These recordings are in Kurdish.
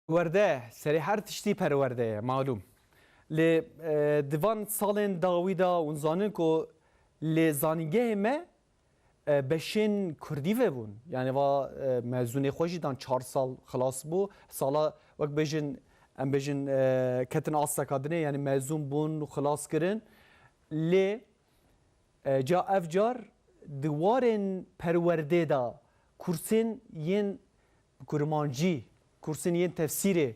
Werde, serê her tiştî perwerde ye malûm. Lê di van salên dawî de hûn zanin ku li zanîngehê me beşên kurdî vebûn. Yanî va mezûnê xwe jî dan çar sal xilas bû. Sala wek bêjin em bêjin ketin asteka dinê yanî mezûn bûn û xilas kirin. Lê ca ev car di warên perwerdê de kursên yên Bi kurmancî kursên yên tefsîrê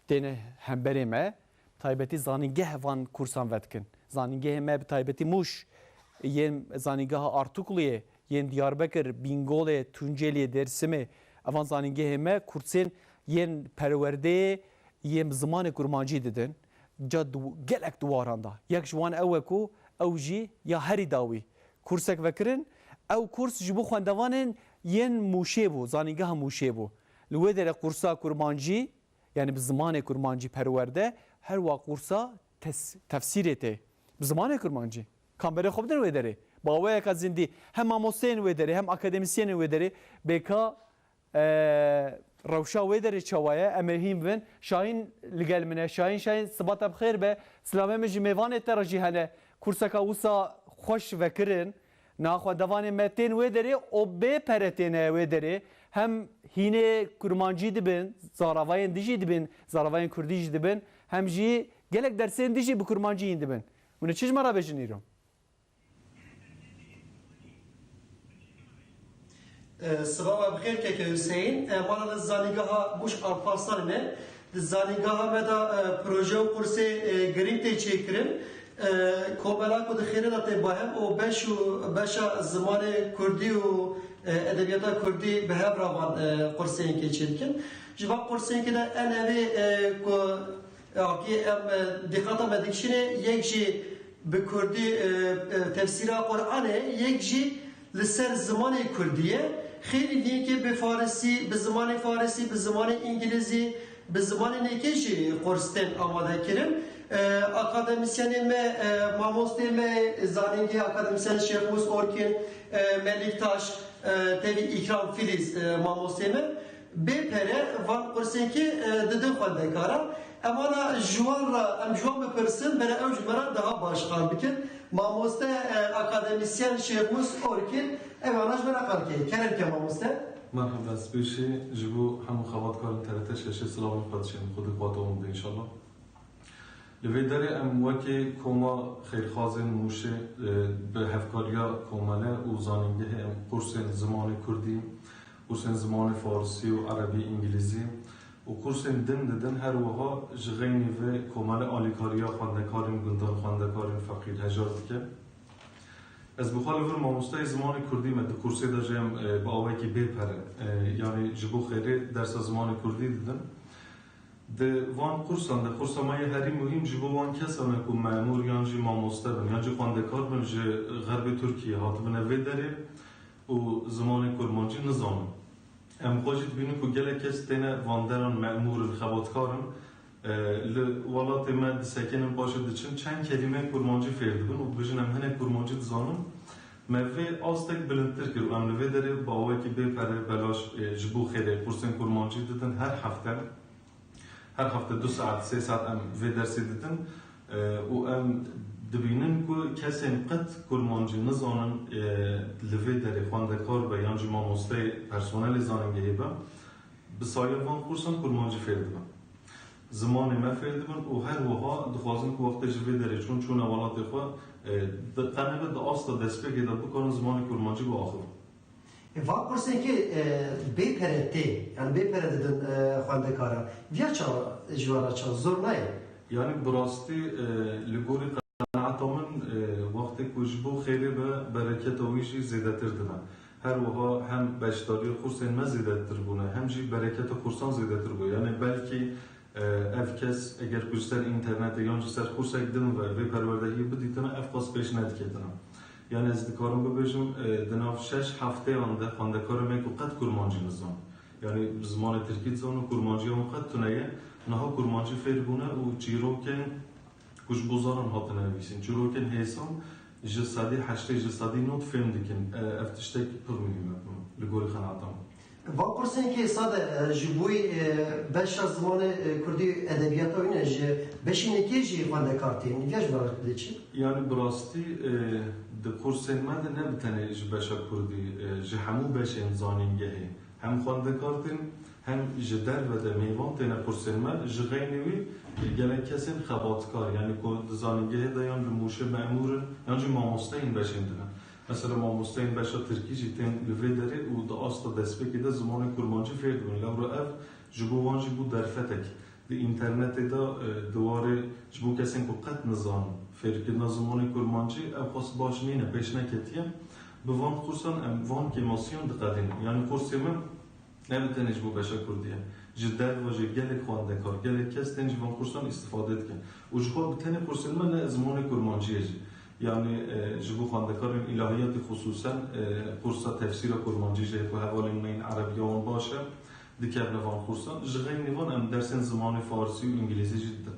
têne hemberê me, bi taybetî zanîngeh van kursan vedikin. Zanîngehê me bi taybetî Mûş, yên zanîngeha Artukluyê, yên Diyarbekir, Bîngolê, Tunceliyê, Dêrsimê, evan zanîngehê me kursên yên perwerdeyê yên bi zimanê kurmancî didin ca gelek diwaran de. Yek ji wan ew e ku ew jî ya herî dawî Kursek vekirin, ew kurs ji bo xwendevanên yên Mûşê bû, zanîngeha Mûşê bû. Li wê derê qursa kurmancî, yanî bi zimanê kurmancî perwerde, her wa qursa tes, tefsîrê tê, bi zimanê kurmancî. Kamberên xwe bidin wê derê. Bi awayeka zindî, hem mamosteyên wê derê, hem akademisyenên wê derê, bêka Eee, rewşa wê derê çawa ye? Em ê hîn bibin. Şahîn li gel min e. Şahîn, Şahîn, siba te bi xêr be. Silamê min ji mêvanê te re jî hene. Kurseka wisa xweş vekirin. Naxwe devanê me tên wê derê û bê pere têne wê derê. Hem hînê kurmancî dibin, zaravayên dijî dibin, zaravayên kurdî jî dibin. Hem jî gelek dersên dijî bi kurmancî hîn dibin. Hûn ê çi ji me re bêjin îro? Sibava bi xêr Keke Huseyîn. Mala me di Zanîngeha Bûş a Parsan in e. Di zanîngeha me de proje û kursê girîng tê çêkirin. Komela ku di xêrê de tê bahem û beş û beşa zimanê kurdî û edebiyata kurdî bi hev re van qursênkê çêdikin. Ji van qursênkê de en evê ku Akî em dîqata me dikişînê yek jî bi kurdî tefsîra Quranê yek jî li ser zimanê kurdî ye. Xêlî din yekê bi farisî, bi zimanê farisî, bi zimanê îngilîzî, bi zimanên yekê jî qurs tên amade kirin. Akademisyenê me, mamostê me yê zanîngehê akademisyen Şêx Mus Orkin, Melik Taş, tevî Îkram Filîz mamostê me. Bê pere van pirsekê didin xwendekaran. Em wana ji wan re em ji wan bipirsin bere ew ji me re daha baş qal bikin. Mamoste akademisyen Şêxmus Orkin ew wana ji me re qal kir. Kerem ke mamoste. Merhaba spêşê ji bo hemû xebatkarên TRT şeşê silavên xwe diçênim xwe di qatowan de înşallah. Li vê derê em wekî koma xêrxwazên Mûşê bi hevkariya komele û zanîngehê em kursên zimanê kurdî Kursên zimanê farisî û erebî, îngilîzî û kursên din didin, her wiha ji xeynî vê komele alîkariya xwendekarên gundan, xwendekarên feqîr hejar dike. Ez bi xwe li vir mamosteyê zimanê kurdî me, di kursê de jî em bi awayekî bê pere, yanî ji bo xêrê dersa zimanê kurdî didin. Di van kursan de, kursa me ya herî muhîm ji bo wan kesan e ku memûr yan jî mamoste bin, yan jî xwendekar bin ji xerbê Tirkiyeyê hatibine vê derê, û zimanê kurmancî nizanin. Em xwe jî dibînin ku gelek kes têne vanderan, memûr in, xebatkar in. Li welatê me disekinin paşê diçin çend kelîmeyên kurmancî fêr dibin û dibêjin em hinek kurmancî dizanin. Me vê astek bilindtir kir û em li vê derê bi awayekî bê pere belaş ji bo xêrê kursên kurmancî didin her hefte. Her hefte du saet sê saet em vê dersê dikin û em dibînin ku kesên qet kurmancî nizanin li vê derê xwendekar be yan jî mamosteyê personelê zanîngehê be bi sayeya van qûrsan kurmancî fêr dibin. Zimanê me fêr dibin û her wiha dixwazin ku wextê ji vê derê çûn çûne welatê xwe tenebe di asta destpêkê de bikarin zimanê kurmancî biaxivin. Van kursêkê bê pere tê, yanî bê pere didin xwendekaran. Diya çawa ji wan re çawa zor nayê. Yanî bi rastî li gorî qenaeta min wextê ku ji bo xêrê be bereketa wî jî zêdetir dime. Her wiha hem beşdariya kursên me zêdetir bûne hem jî bereketa kursan zêdetir bûye. Yanî belkî ev kes eger ku ji ser înternetê yan ji ser kursek din ve vê perwerdehiyê bidîtine ev qas pêş nediketine. Yan ez dikarim bibêjim di nav şeş hefteyan de xwendekara me ku qet kurmancî nizan, yanî bi zimanê tirkî dizan û kurmanciya wan qet tune ye, niha kurmancî fêr bûne û çîrokên ku ji bo zaran hatine nivîsîn, çîrokên hêsan ji sedî heştê, ji sedî nod fêm dikin. Ev tiştek pir muhîm e li gorî qenaata min. Van kursên kê sade ji boî beşa zimanê kurdî û edebiyata wî ne ji beşînê kê jî xwendekar tên. Îdiya ji ber dê çi? Yanî bi rastî di kursên me de ne bi tenê ji beşa kurdî ji hemû beşên zanîngehê hem xwendekar tên hem ji derve de mêvan têne kursên me. Ji xeynî wî gelek kesên xebatkar yanî ku di zanîngehê de yan li Mûşê memûr in yan jî mamoste yên beşên din in Mesela mamosteyên beşa tirkî jî tên li vê derê û di asta destpêkê de zimanê kurmancî fêr dibin. Lewra ev ji bo wan jî bû derfetek. Di înternetê de di warê ji bo kesên ku qet nizanin fêrkirina zimanê kurmancî ew xwest baş nîne pêş neketiye. Bi van qursan em van kêmasiyan diqedînin. Yanî qursê min Ne bi tenê ji bo beşa kurdî ye. Ji derve jî gelek xwendekar, gelek kes tên ji van kursan îstîfade dikin. Û ji xwe bi tenê kursên me ne zimanê kurmanciyê jî. Yanî ji bo xwendekarên îlahiyatî xisûsen kursa tefsîra kurmancî jî heye ku hevalên me yên erebiya wan baş e, dikevne van kursan. Ji xeynî van em dersên zimanê farsî û îngîlîzî jî didin.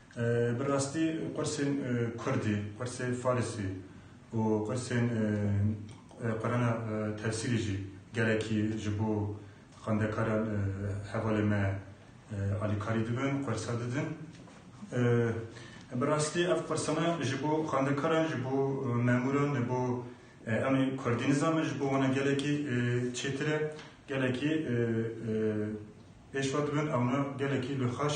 Bi rastî qursên kurdî, qursê farisî û qursên Qurana tefsîrî jî gelekî ji bo xwendekaran hevalê me alîkarî dibin, qursa didin. Bi rastî ev qursana ji bo xwendekaran, ji bo memûran, ji bo em ê kurdî nizanin ji bo wan gelekî çêtir e, gelekî pêşva dibin, ewna gelekî li xweş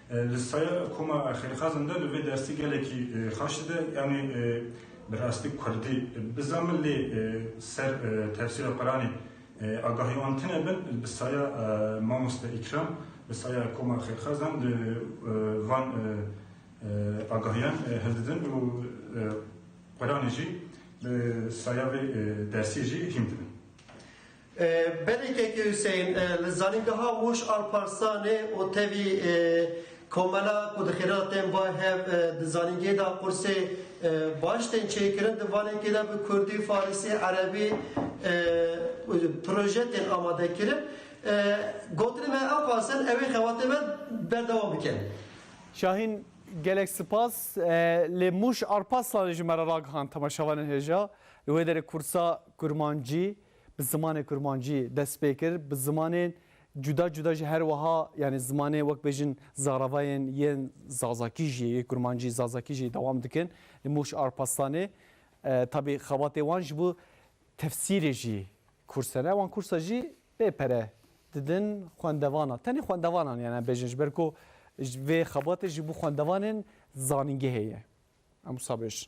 Li saya koma Xêrxazan de li vê dersi gelekî xaş dide. Yanî bi rastî kurdî bizamin lê ser tefsîra Quranê agahî wan tune bin. Bi saya mamoste Îkram li saya koma Xêrxazan li van agahiyan hildidin û Quranê jî li saya vê dersî jî hîm dibin. Belê Keke Hussein li zanîngeha Mûş Alparslanê û tevî komela ku di xêra tên va hev di zanîngehê de qursê baş tên çêkirin di vanekê de bi kurdî, farisî, erebî proje tên amadekirin. Gotinên me ew qas in ewê xebatên me berdewam bikin. Şahîn gelek sipas lê Mûş Arpaslanê ji me re ragihand temaşevanên hêja li wê derê kursa kurmancî bi zimanê kurmancî dest pê kir, bi zimanên cuda cuda jî her wiha yanî zimanê wek bêjin zaravayên yên zazakî jî yê kurmancî zazakî jî dewam dikin li Mûş Arpastanê tabî xebatê wan ji bo tefsîrê jî kurse ne wan kursa jî bê pere didin xwendevana tenê xwendevanan yan em bêjin ji ber ku vê xebatê ji bo xwendevanên zanîngehê ye em wisa bêjin.